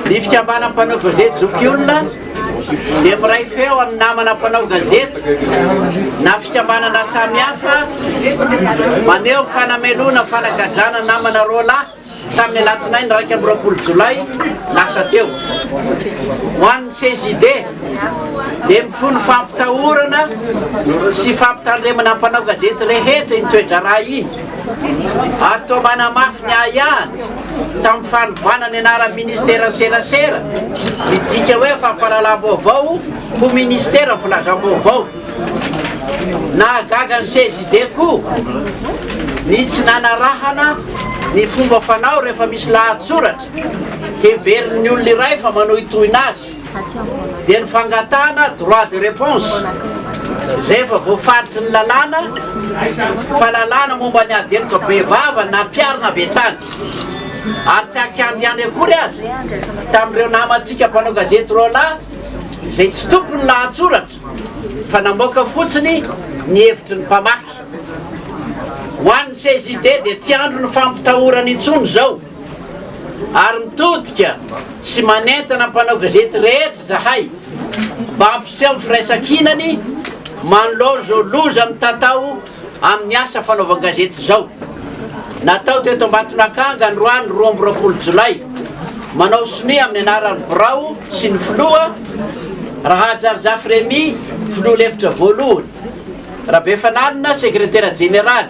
Ny fikambanan'ny mpanao gazety Zokiolona dia miray feo amin'ny namana mpanao gazety na fikambanana samihafa maneho ny fanamelohana ny fanagadrana namana roa lahy tamin'ny alatsinainy iraika amby roapolo jolay lasa teo. Ho an'ny CJD dia mifono fampitahorana sy fampitandremana mpanao gazety rehetra iny toe-draharaha iny. ary toa manamafy ny ahiahiny tamin'ny fanovana ny anaran'ny ministeran'ny serasera, midika hoe fampahalalam-baovao ho ministeran'ny filazam-baovao. Nahagaga ny CJD koa ny tsy nanarahana ny fomba fanao rehefa misy lahatsoratra heverin'ny olona iray fa manohitohina azy. dia ny fangatahana droit de réponse izay efa voafaritry ny lalàna fa lalàna momba ny ady heloka bevava nampiharina avy hatrany ary tsy ankiandriandry akory aza tamin'ireo namantsika mpanao gazety roa lahy izay tsy tompo ny lahatsoratra fa namoaka fotsiny ny hevitry ny mpamaky ho an'ny CJD dia tsy andro ny fampitahorana intsony izao Ary mitodika sy manentana mpanao gazety rehetra izahay mba hampiseho ny firaisankinany manoloana izao loza mitatao amin'ny asa fanaovan-gazety izao. Natao teto Ambatonakanga androany roa amby roapolo jolay, manao sonia amin'ny anaran'ny birao sy ny filoha, Rahahajarizafy Rémy, filoha lefitra voalohany, Rabefanalina, sekretera jeneraly,